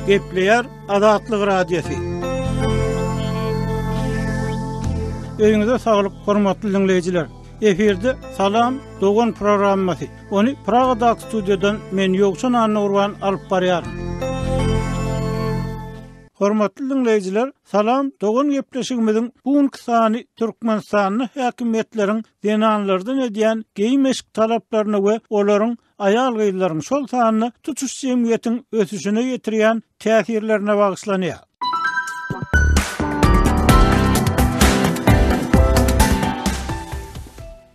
Gepleýär Azatlyk Radiýasy. Öýüňize saglyk, hormatly dinleýjiler. Efirde Salam dogan programmasy. Ony Pragada studiýadan men Ýowçan Annurwan alyp barýar. Hormatly diňleýjiler Salam dogan gepleşigimiziň bu günki sany Türkmenistanda häkimiýetleriň zenanlardan edýän geýim eşik talaplaryna we olaryň aýal gyzlaryň şol sanda tutuş jemgyýetiň ösüşine ýetirýän täsirlerine bagyşlanýar.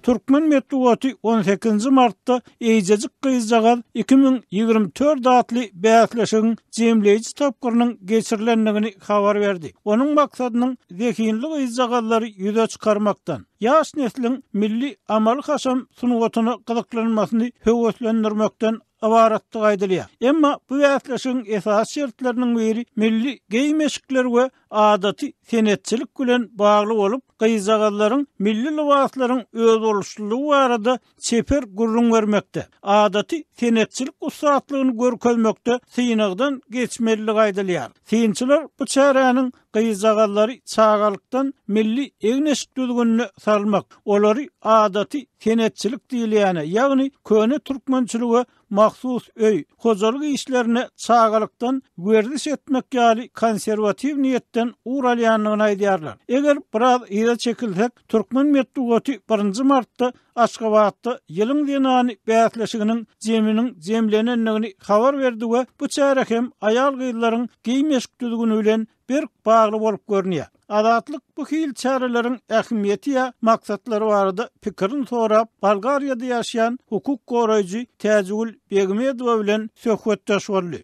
Türkmen metbugaty on sekizinji martda Eýjejik gyzjagaz iki müň ýigrimi dört atly bäsleşigiň jemleýji tapgyrynyň geçirilendigini habar berdi. Onuň maksadynyň zehinli gyzjagazlary ýüze çykarmakdan, ýaş nesliň milli amaly-haşam sungatyna gyzyklanmasyny höweslendirmekden ybaratdygy aýdylýar. Emma bu bäsleşigiň esasy şertleriniň biri milli geýim-eşikler we adaty senetçilik bilen bagly bolup, gyzjagazlaryň milli lybaslaryň özboluşlylygy barada çeper gürrüň bermekde, adaty senetçilik ussatlygyny görkezmekde synagdan geçmelidigi aýdylýar. Synçylar bu çäräniň Gyzjagazlary çagalykdan milli egin-eşik düzgünine salmak, olary adaty senetçilik diýilýäne, ýagny köne türkmençilige mahsus öý, hojalyk işlerine çagalykdan werziş etmek ýaly konserwatiw niýetden ugur alýandygyny aýdýarlar. Eger biraz yza çekilsek, türkmen metbugaty birinji martda Aşgabatda Ýylyň zenany bäsleşiginiň jeminiň jemlenendigini habar berdi we bu çäre hem aýal-gyzlaryň geýim-eşik düzgüni bilen berk bagly bolup görünýär. Azatlyk bu hili çäreleriň ähmiýeti ýa maksatlary barada pikirini sorap, Bolgariýada ýaşaýan hukuk goraýjy Täjigül Begmedowa bilen söhbetdeş boldy.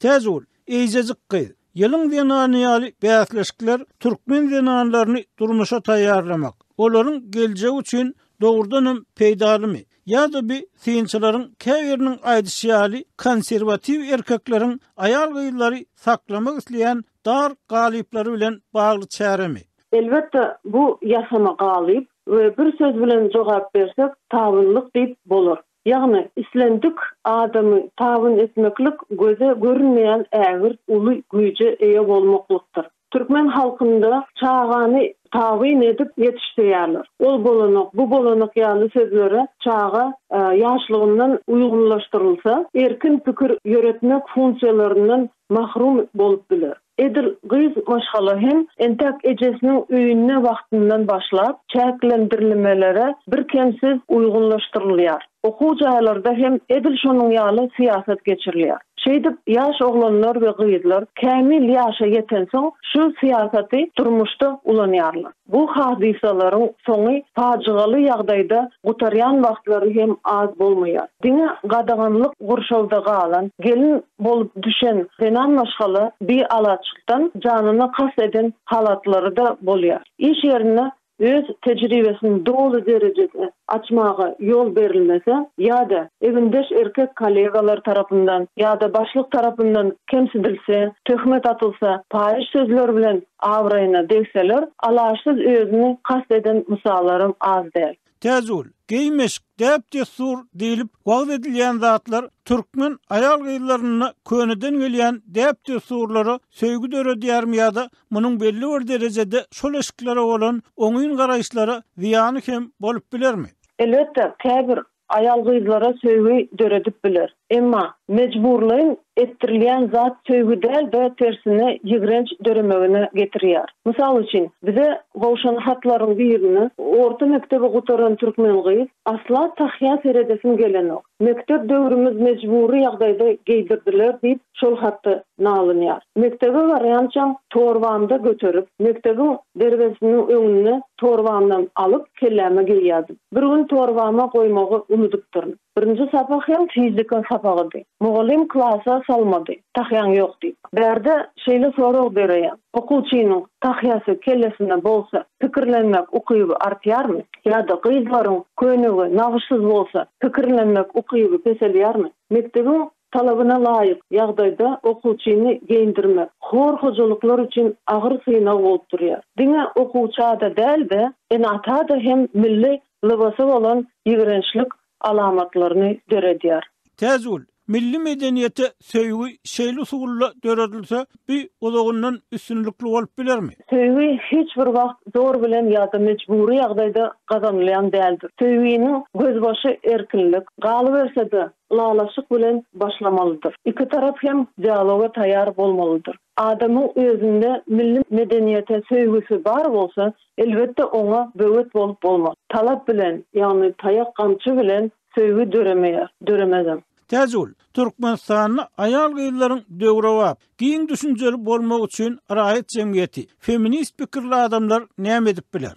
Täjigül, Eýjejik gyz, ýylyň zenany ýaly bäsleşikler türkmen zenanlaryny durmuşa taýýarlamak, olaryň geljegi üçin dogrudan hem peýdalymy? Ýa-da bi synçylaryň käbiriniň aýdyşy ýaly konserwatiw erkekleriň aýal-gyzlary saklamak isleýän dar galyplary bilen bagly çäremi? Elbetde, bu ýasama galyp we bir söz bilen jogap bersek, tabynlyk diýip bolar. Ýagny, islendik adamy tabyn etmeklik göze görünmeýän ägirt uly güýje eýe bolmaklykdyr. Türkmen halkynda çagany tabyn edip ýetişdirýärler. Ol bolanok, bu bolanok ýaly sözlere çaga ýaşlygyndan uýgunlaşdyrylsa, erkin pikir ýöretmek funksiýalaryndan mahrum bolup biler. Edil gyz maşgala hem entäk ejesiniň öýünde wagtyndan başlap, çäklendirlimelere birkemsiz uýgunlaşdyrylýar. Okuw jaýlarda hem edil şonuň ýaly syýasat geçirilýär. Şeýdip, ýaş oglanlar we gyzlar kämil ýaşa ýetensoň, şu syýasaty durmuşda ulanýarlar. Bu hadysalaryň soňy pajygaly ýagdaýda gutarýan wagtlary hem az bolmaýar. Diňe gadaganlyk gurşawda galan, gelin bolup düşen zenan maşgala bialaçlykdan janyna kast eden halatlary-da bolýar. Iş ýerinde öz tejribesini doly derejede açmaga ýol berilmese ýa-da egindeş erkek kollegalar tarapyndan ýa-da başlyk tarapyndan kemsidilse, töhmet atylsa, paýyş sözler bilen Abraýyna degseler, alaşsyz özüni kast eden Musalaram az däl. Täjigül, geý-meşik, däp-dessur diýlip wagyz edilýän zatlar türkmen aýal-gyzlarynda köneden gelýän däp-dessurlara söýgi döredýärmi ýa-da munuň belli bir derejede şol eşiklere bolan oňyn garaýyşlara zyýany hem bolup bilermi? Elbetde, käbir Aýal gyzlara söýgi döredip biler. Emma, mejburlaýyn etdirilýän zat söýgi däl-de, tersine ýigrenç döremegine getirýär. Mysal üçin, bize gowşan hatlaryň birinde, Orta mekdebi gutaran türkmen gyz, asla tahýa seredesim gelenok. Mekdep döwrümiz mejbury ýagdaýda geýdirdiler diýip, şol haty nalynýar. Mekdebe barýançam torbamda göterip, mekdebiň derwezesiniň öňünde torbamdan alyp, kelläme geýýärdim. Bir gün torbama goýmagy unudypdyryn. Birinji sapak hem fizika sapagydy. Mugallym klasa salmady, tahýaň ýok diýip. Bärde şeýle sorag bereýän, Okuwçynyň tahýasy kellesinde bolsa, pikirlenmek ukyby artýarmy? Ýa-da gyzlaryň köýnegi nagyşsyz bolsa, pikirlenmek ukyby peselýärmi? Mekdebiň Talabyna laýyk ýagdaýda okuwçyny geýindirmek hor hojalyklar üçin agyr synag bolup durýar. Diňe okuwça-da däl-de, ene-ata-da hem milli lybasa bolan ýigrençlik alamatlaryny döredýär. Täjigül, Milli medeniýete söýgi şeýle usulla döredilse, bi uzagyndan üstünlikli bolup bilermi? Söýgi hiç bir wagt zor bilen ýa-da mejbury ýagdaýda gazanylýan däldir. Söýginiň gözbaşy erkinlik. Galyberse-de, ylalaşyk bilen başlamalydyr. Iki tarap hem dialoga taýýar bolmalydyr. Adamyň özünde milli medeniýete söýgüsi bar bolsa, elbetde oňa böwet bolup bolmaz. Talap bilen, ýagny taýak-gamçy bilen söýgi döremeýär, döremezem. Täjigül, Türkmenistanda aýal-gyzlaryň döwrebap, giň düşünjeli bolmagy üçin raýat jemgyýeti, feminist pikirli adamlar näme edip biler?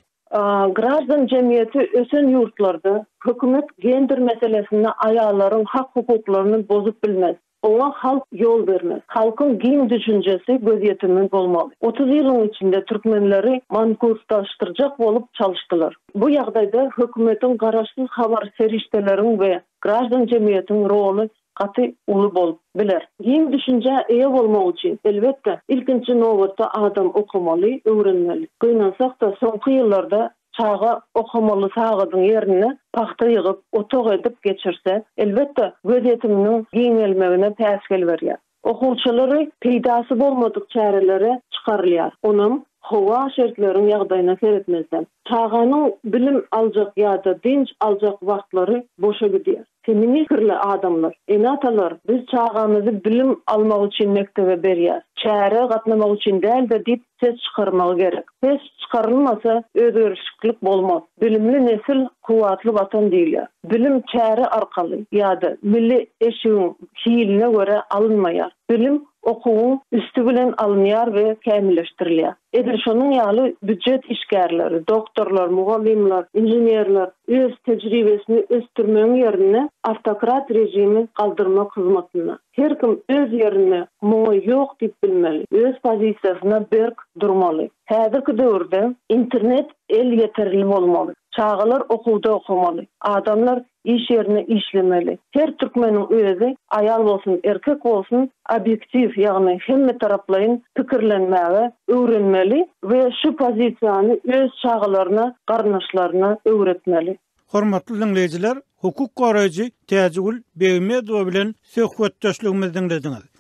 Graždan jemgyýeti ösen ýurtlarda hökümet gender meselesinde aýallaryň hak-hukuklaryny bozup bilmez. Oňa halk ýol bermez. Halkyň giň düşünjesi, gözýetimi bolmaly. Otuz ýylyň içinde türkmenleri mankurtlaşdyrjak bolup çalyşdylar. Bu ýagdaýda hökümetiň garaşsyz habar serişdeleriň we graždan jemgyýetiň roly gaty uly bolup biler. Giň düşünjä eýe bolmak üçin, elbetde, ilkinji nobatda adam okamaly, öwrenmeli. Gynansak-da, soňky ýyllarda çaga okamaly sagadyň ýerine pagta ýygyp, otag edip geçirse, elbetde, gözýetiminiň giňelmegine päsgel berýär. Okuwçylary peýdasy bolmadyk çärelere çykarylýar, onam howa, şertleriň ýagdaýyna seretmezden. Çaganyň bilim aljak ýa-da dynç aljak wagtlary boşa gidýär. Seni mähirli adamlar, ene-atalar, biz çagamyzy bilim almagy üçin mekdebe berýäs, çärä gatnamak üçin däl-de diýip ses çykarmagy gerek. Ses çykarylmasa, özgerişiklik bolmaz. Bilimli nesil, kuwwatly Watan diýilýär. Bilim çäre arkaly ýa-da milli eşigiň hiline görä alynmaýar. Bilim okuwyň üsti bilen alynýar we kämilleşdirilýär. Edil şonuň ýaly býujet işgärleri, doktorlar, mugallymlar, inženerler öz tejribesini ösdürmegiň ýerinde awtokrat režimi galdyrmak hyzmatynda. Her kim öz ýerinde muňa ýok diýip bilmeli, öz pozisiýasyna berk durmaly. Häzirki döwürde internet elýeterli bolmaly, çagalar okuwda okamaly, adamlar iş ýerinde işlemeli. Her türkmeniň özi, aýal bolsun, erkek bolsun, obýektiw, ýagny hemmetaraplaýyn pikirlenmäge öwrenmeli we şu pozisiýany öz çagalaryna, garyndaşlaryna öwretmeli. Hormatly diňleýjiler, hukuk goraýjy Täjigül Begmedowa bilen söhbetdeşligimizi diňlediňiz.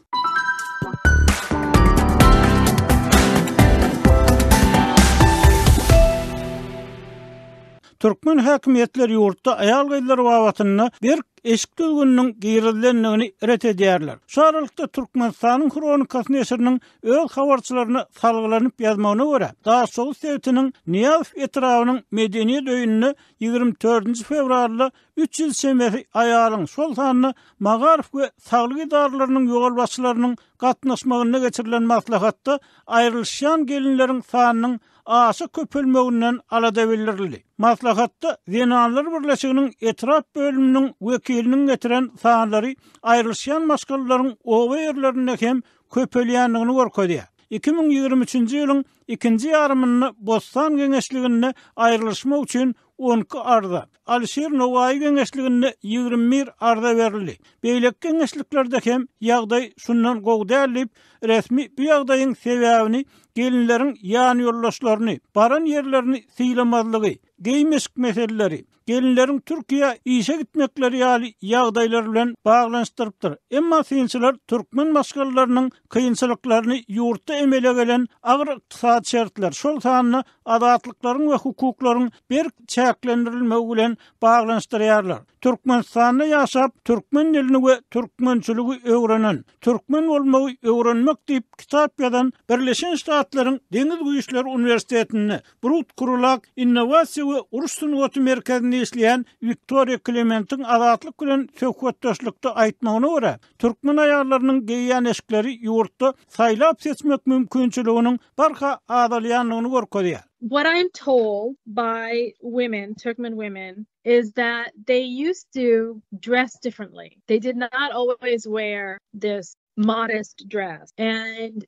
Türkmen häkimiýetleri ýurtda aýal-gyzlar babatynda berk eşik düzgüniniň girizilendigini ret edýärler. Şu aralykda Türkmenistanyň Hronikasy neşiriniň öz habarçylaryna salgylanyp ýazmagyna görä, Daşoguz sebitiniň Nyýazow etrabynyň medeniýet öýünde 24-nji fewralda Üç ýyl çemesi aýalyň, şol sanda magaryf we saglyk edaralarynyň ýolbaşçylarynyň gatnaşmagynda geçirilen maslahatda aýrylyşýan gelinleriň sanynyň aşa köpelmeginden alada bildirildi. Maslahatda Zenanlar birleşiginiň etrap bölüminiň wekiliniň getiren sanlary aýrylyşýan maşgalalaryň oba ýerlerinde hem köpelýändigini görkezýär. Iki müň ýigrimi üçünji ýylyň ikinji ýarymynda Bossan geňeşliginde aýrylyşmak üçin on iki arza, Alyşir Nowaýy geňeşliginde ýigrimi bir arza berildi. Beýleki geňeşliklerde hem ýagdaý şundan gowy däl diýip, resmi bu ýagdaýyň sebäbini gelinleriň ýanýoldaşlaryny, baran ýerlerini sylamazlygy, geý-meşik meseleleri, gelinleriň Türkiýä işe gitmekleri ýaly ýagdaýlar bilen baglanyşdyrypdyr. Emma synçylar türkmen maşgalalarynyň kynçylyklaryny ýurtda emele gelen agyr ykdysady şertler, şol sanda azatlyklaryň we hukuklaryň berk çäklendirilmegi bilen baglanyşdyrýarlar. Türkmenistanda ýaşap, türkmen dilini we türkmençiligi öwrenen, türkmen bolmagy öwrenmek diýip kitap ýazan Birleşen Ştatlaryň Deňiz güýçleri uniwersitetinde Brut Krulak innowasiýa we uruş sungaty merkezinde işleýän Wiktoriýa Klementiň Azatlyk bilen söhbetdeşlikde aýtmagyna görä, Türkmen aýallarynyň geýýän eşikleri ýurtda saýlap-seçmek mümkinçiliginiň barha azalýandygyny görkezýär. What I am told by women, Turkmen women, is that they used to dress differently. They did not always wear this modest dress and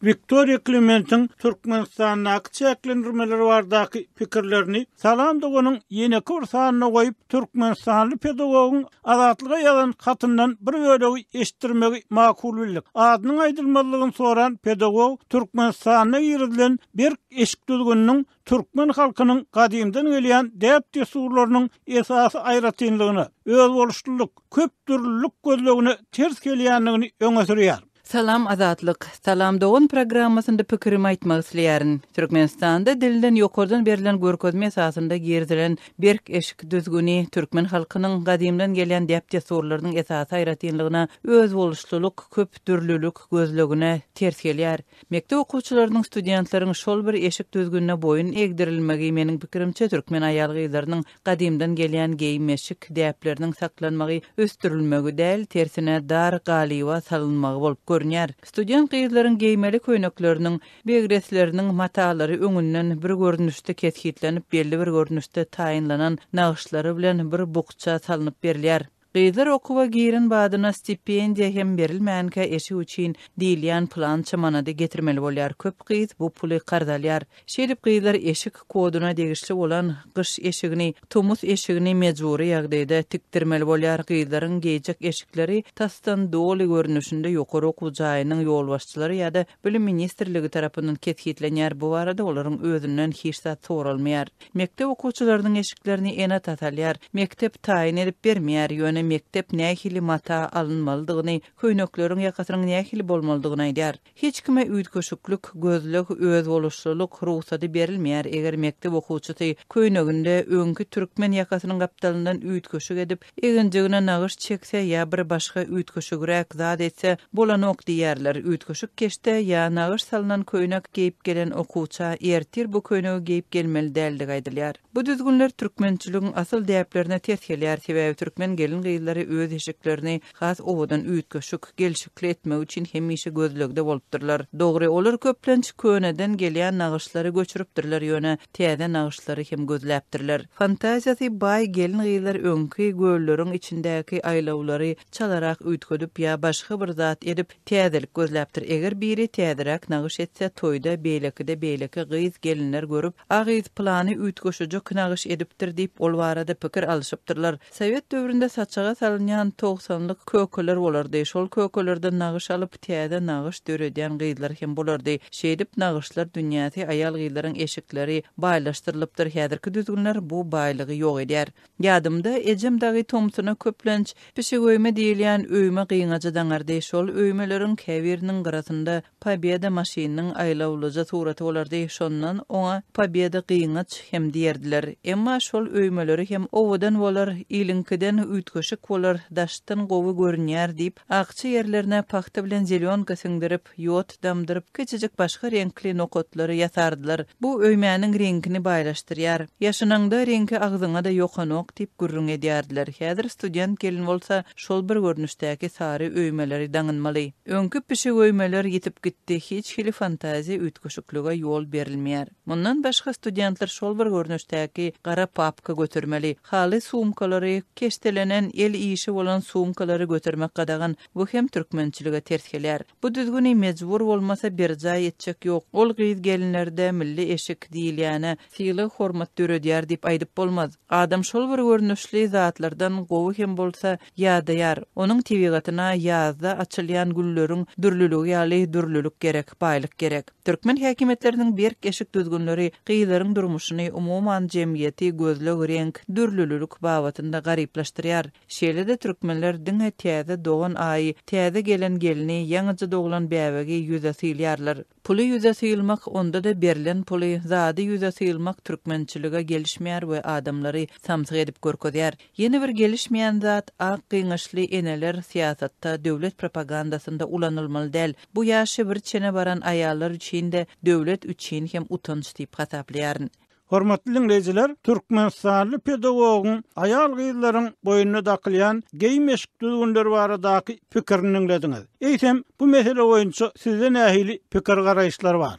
Wiktoriýa Klementiň Türkmenistandaky çäklendirmeler bardaky pikirlerini Salam doganyň ýeneki bir sanyna goýup, türkmenistanly pedagogyň Azatlyga ýazan hatyndan bir bölegi eşitdirmegi makul bildik. Adynyň aýdylmazlygyny soran pedagog Türkmenistanda girizilen berk eşik düzgüniniň türkmen halkynyň gadymdan gelýän däp-dessurlarynyň esasy aýratynlygyna, özboluşlylyk, köpdürlülik gözlegine ters gelýändigini öňe sürýär. Salam Azatlyk. Salam dogan programmasynda pikirimi aýtmak isleýärin. Türkmenistanda dilden ýokardan berlen görkezme esasynda girizilen berk eşik düzgüni türkmen halkynyň gadymdan gelýän däp-dessurlarynyň esasy aýratynlygyna özboluşlylyk, köp dürlülik gözlegine ters gelýär. Mekdep okuwçylarynyň, studentlaryň şol bir eşik düzgünine boýun egdirilmegi meniň pikirimçe türkmen aýal-gyzlarynyň Gadymdan gelýän geýim-eşik däpleriniň saklanmagy, ösdürilmegi däl, tersine, dar galyba salynmagy bolup görünýär. Student gyzlaryň geýmeli köýnekleriniň, begresleriniň matalary öňünden bir görnüşde kesgitlenip, belli bir görnüşde taýynlanan nagyşlary bilen bir bukja salnyp berilýär. Gyzlar okuwa giren badyna stipendiýa hem berilmänkä eşik üçin diýilýän pylança manady getirmeli bolýar, köp gyz bu puly karz alýar. Şeýdip gyzlar eşik koduna degişli bolan gyş eşigini, tomus eşigini mejbury ýagdaýda tikdirmeli bolýar. Gyzlaryň geýjek eşikleri tasdan doly görnüşinde ýokary okuw jaýynyň ýolbaşçylary ýa-da Bilim ministrligi tarapyndan kesgitlenýär, bu barada olaryň özünden hiç zat soralmaýar. Mekdep okuwçylarynyň eşiklerini ene tatalýar. Mekdep taýyn edip bermeýär, ýöne mekdep nähili mata alynmalydygyny, köýnekleriň ýakasynyň nähili bolmalydygyny aýdýar. Hiç kime üýtgeşiklik, gözleg, özboluşlylyk, rugsady berilmeýär, eger mekdep okuwçysy köýneginde öňki türkmen ýakasynyň gapdalyndan üýtgeşik edip, Eginjigine nagyş çekse ýa bir başga üýtgeşigräk zat etse bolanok diýerler. Üýtgeşik keşde ýa nagyş salnan köýnek geýip gelen okuwça ertir bu köýnegi geýip gelmeli däldigi aýdylýar. Bu düzgünler türkmençiligiň asyl däplerine ters gelýär, sebäbi türkmen gelin-gyzlary öz eşiklerini has owadan, üýtgeşik, gelşikli etmek üçin hemişe gözlegde bolupdyrlar. Dogry, olar köplenç köneden gelýän nagyşlary göçüripdirler, ýöne, täze nagyşlary hem gözläpdirler. Fantaziýasy baý gelin-gyzlar öňki gölleriň içindäki aýlawlary çalarak üýtgedip ýa başga bir zat edip, täzelik gözläpdir. Eger biri täzeräk nagyş etse, toýda beýlekide beýleki gyz-gelinler görüp, A gyz pylany üýtgeşeje nagyş edipdir diýip, ol barada pikir alyşypdyrlar. Sowet döwründe saçaga salynýan togsanlyk kökeler bolardy. Şol kökelerden nagyş alyp, täze nagyş döredýän gyzlar hem bolardy. Şeýdip, nagyşlar dünýäsi, aýal-gyzlaryň eşikleri baýlaşdyrylypdyr. Häzirki düzgünler bu baýlygy ýok edýär. Ýadymda, ejem dagy tomsuna köplenç pişigöýme diýilýän öýme gyňaja daňardy. Şol öýmeleriň käbiriniň gyrasynda Pobeda maşynynyň aýlawlyja suraty bolardy, şondan oňa Pobeda gyňaç hem diýerdiler. Emma şol öýmeleri hem owadan bolar, iliňkiden üýtgeşik bolar, daşdan gowy görünýär diýip, akja ýerlerine pagta bilen zelýonka siňdirip, ýod damdyryp, kiçijik başga reňkli nokatlary ýasardylar. Bu öýmäniň reňkini baýlaşdyrýar. Ýaşanaňda reňki agzyňa-da ýokanok diýip gürrüň edýärdiler. Häzir student gelin bolsa, Şol bir görnüşdäki sary öýmeleri daňynmaly. Öňki pişik öýmeler ýitip gitdi, hiç hili fantaziýa üýtgeşiklige ýol berilmeýär. Mundan başga studentler şol bir görnüşdäki gara papka götermeli. Haly sumkalary, keşdelenen, el işi bolan sumkalary götermek gadagan, bu hem türkmençilige ters gelýär. Bu düzgüni mejbur bolmasa berjaý etjek ýok. Ol gyz-gelinlerde milli eşik diýilýäne, sylag-hormat döredýär diýip aýdyp bolmaz. Adam şol bir görnüşli zatlardan gowy hem bolsa ýadaýar. Onuň tebigatyna ýazda açylýan gülleriň dürlüligi ýaly dürlülik gerek, baýlyk gerek. Türkmen häkimiýetleriniň berk eşik düzgünleri gyzlaryň durmuşyny, umuman, jemgyýeti gözleg, reňk, dürlülülik babatynda garyplaşdyrýar. Şeýle-de türkmenler diňe täze dogan aýy, täze gelen gelni, ýaňyja doglan bäbegi ýüze sylýarlar. Puly ýüze sylmak, onda-da berlen puly, zady ýüze sylmak türkmençilige gelişmeýär we adamlary samsyk edip görkezýär. Ýene bir gelişmeýän zat, ak gyňaçly eneler syýasatda, döwlet propagandasynda ulanylmaly däl. Bu ýaşy bir çene baran aýallar üçin-de, döwlet üçin hem utanç diýip hasaplaýaryn. Hormatly diňleýjiler, türkmenistanly pedagogyň aýal-gyzlaryň boýnuna dakylýan geýim-eşik düzgünleri baradaky pikirini diňlediňiz. Eýsem, bu mesele boýunça sizde nähili pikir-garaýyşlar bar?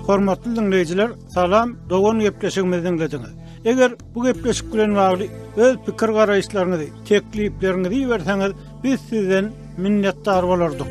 Hormatly diňleýjiler, salam, dogan gepleşigimizi diňlediňiz. Eger bu gepleşik bilen bagly öz pikir-garaýyşlaryňyzy, teklipleriňizi iberseňiz, biz sizden minnetdar bolardyk.